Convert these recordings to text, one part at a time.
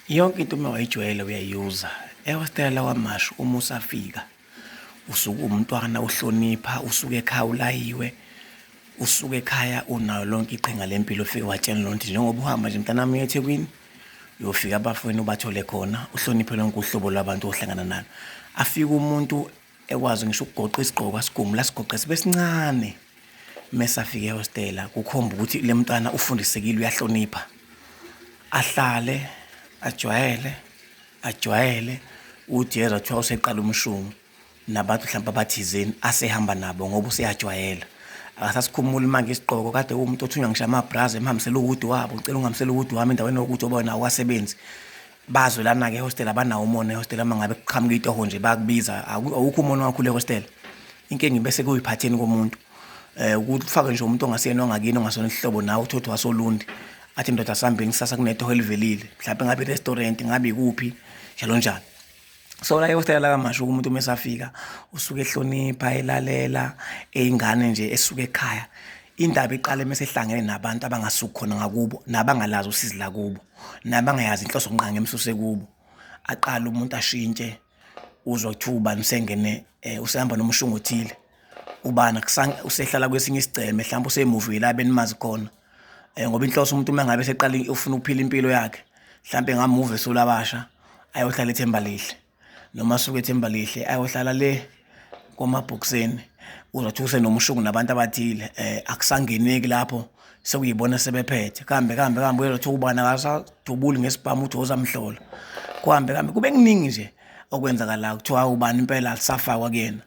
yonke into uma wayijwayele uyayuza ewestela lawa mashu uma usafika usuke umntwana uhlonipha usuke ekhaya ulayiwe usuke ekhaya unayo lonke iqhinga lempilo ufike watshela loo nto njengoba uhamba nje mntanami uye ethekwini uyofika abafweni ubathole khona uhloniphe lonke uhlobo lwabantu ohlangana nalo afike umuntu ekwazi ngisho ukugoqa isigqoko asigumula sigoqe sibe sincane mesafika ehostela kukhomba ukuthi le mntwana ufundisekile uyahlonipha ahlale ajwayele ajwayele ujeza kuthiwa useqala umshungu nabantu mhlawumbe abathizeni asehamba nabo ngoba useyajwayela akasasikhumuli manje isigqoko kade uwumuntu othunywa ngisho amabrazi emhambisela uwudi wabo ngicela unghambisela uwudi wami endaweni yokuthi oba wena awasebenzi Bayazwelana-ke ehostela abanawo umona ehostela uma ngabe kuqhamuka itoho nje bayakubiza awukho umona wakho le hostela inkinga ibese kuyiphatheni komuntu um ukuthi ufake nje umuntu ongasiyena ongakini ongasona isihlobo nawe uthi uthi wasolundi athi ndoda sihambeni kusasa kunetoho elivelile mhlawumbe ngabe i-restaurant ngabe ikuphi njalo njalo so la ehostela lakamasho umuntu uma esafika usuke ehlonipha elalela eyingane nje esuke ekhaya indaba iqale uma sehlangene nabantu abangasukhona ngakubo nabangalazi usizi lakubo nabangayazi inhloso kunqanga emsuse kubo aqala umuntu ashintshe uzwa kuthiwa ubani usengene eh, usehamba nomushungu othile ubani usehlala kwesinye isigceme mhlawumbe usemuvi la benimazi khona um ngoba inhloso umuntu uma ngabe seqala ufuna ukuphila impilo yakhe mhlawumbe ngamuva esulabasha ayohlala ethemba lihle noma asuke ethembalihle ayohlala le kwamabhokiseni uzothi usenomushungu nabantu abathile um akusangeneki lapho sekuyibona sebephethe kambe kambe kambe uyezothi ubani akasadubuli ngesibhamu uthi ozamhlola kuhambe kambe kube kuningi nje okwenzakalayo kuthiwa ubani impela alisafakwa kuyena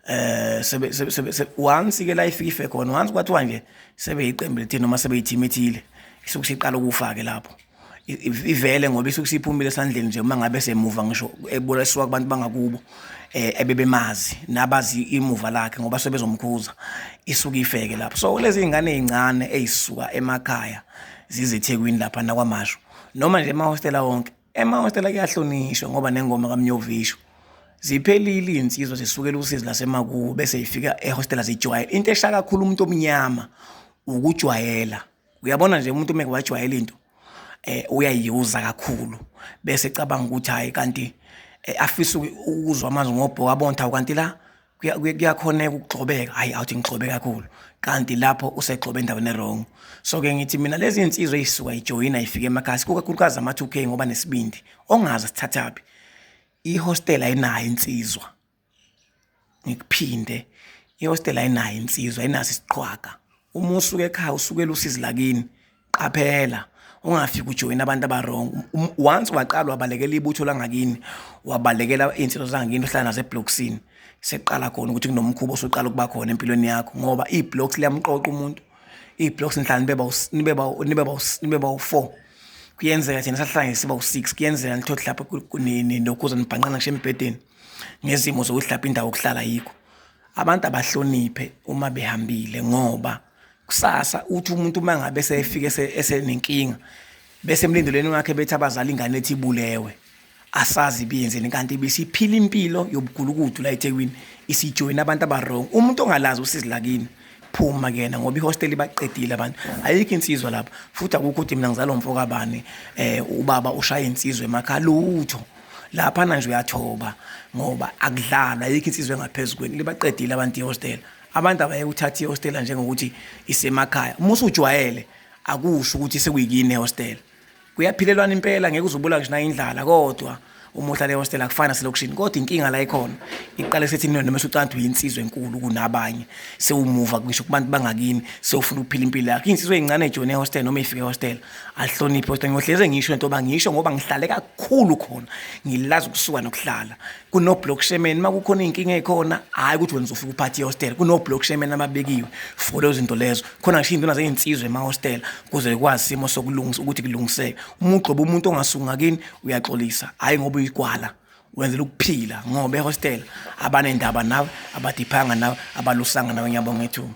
eh sebe sebe once ke la ifika ife khona once kwathiwa nje sebe iqembu lethini noma sebe yithimi ethile isuke siqala ukufake lapho ivele ngoba isuke siphumile esandleni nje uma ngabe semuva ngisho eboleswa kubantu bangakubo eh ebebemazi nabazi imuva lakhe ngoba sebezomkhuza isuke ifeke lapho so lezi ingane ezincane ezisuka emakhaya zizethekwini lapha nakwamasho noma nje emahostela wonke emahostela kuyahlonishwa ngoba nengoma kamnyovisho ziphelile izinsizwa zisukela usizi lasemakubo bese ifika ehostela zijwayela into eshaya kakhulu umuntu omnyama ukujwayela uyabona nje umuntu umeke wajwayela into eh uyayiuza kakhulu bese cabanga ukuthi hayi kanti eh, afisa ukuzwa amazwi ngobhoka bontha kanti la kuyakhoneka ukugxobeka hayi awuthi ngigxobe kakhulu kanti lapho usegxobe endaweni erong so ke ngithi mina lezi insizwa eyisuka ijoyina ifike emakhasi kukakhulukazi ama 2k ngoba nesibindi ongazi sithathaphi ihostel ayinayo insizwa ngikuphinde ihostela ayinayo insizwa ayinaso isiqhwaga uma usuka ekhaya usukela usizi lakini qaphela ungafiki ujoyina abantu abarong um, once waqala wabalekela ibutho langakini wabalekela iy'nsizwa zangakini uhlala nazo ebloksini seqala khona ukuthi kunomkhuba osuqala ukuba khona empilweni yakho ngoba iy'bloks liyamqoqa umuntu iy'bloks nihlala nibe bawu-four kuyenzeka thina sahlangene siba u-six kuyenzeka nithothi lapho nokhuza nibhanqana ngisho embhedeni ngezimo zokuthi lapho indawo okuhlala yikho abantu abahloniphe uma behambile ngoba kusasa uthi umuntu uma ngabe sefike esenenkinga bese emlindelweni wakhe bethi abazali ingane ethi ibulewe asazi biyenzeni kanti bisiphila impilo yobugulukudu la eThekwini isijoyina abantu abarong umuntu ongalazi usizi lakini phuma kuyena ngoba ihosteli baqedile abantu ayikho insizwa lapha futhi akukho ukuthi mina ngizalomfo kabani eh ubaba ushaya insizwe emakhaya lutho lapha nanje uyathoba ngoba akudlalwa ayikho insizwe engaphezulu kweni libaqedile abantu ihostela abantu abaye uthatha ihostela njengokuthi isemakhaya uma usujwayele akusho ukuthi sekuyikini ehostela kuyaphilelwana impela ngeke uzubula ngisho nayindlala kodwa uma uhlala ehostela akufana selokishini kodwa inkinga la ikhona iqale sethi nina noma usucanda uyinsizwe enkulu kunabanye sewumuva ngisho kubantu bangakini sewufuna ukuphila impilo yakho insizwe ezincane ejone ehostela noma ifike ehostela ahloniphe kodwa ngiyohleze ngisho into yoba ngisho ngoba ngihlale kakhulu khona ngilazi ukusuka nokuhlala kunoblock shemen uma kukhona iy'nkinga ey'khona hhayi ukuthi wena uzofika uphathi ihostela kunoblock shemen ababekiwe for lezo zinto lezo khona ngisho iy'ntona zey'nsizwa emahostela kuze ikwazi isimo sokulungisa ukuthi kulungiseke uma ugxoba umuntu ongasunga kini uyaxolisa hhayi ngoba uyigwala wenzela ukuphila ngoba ehostela abanendaba nawe abadiphanga nawe abalusanga nawe ngiyabonga ithuba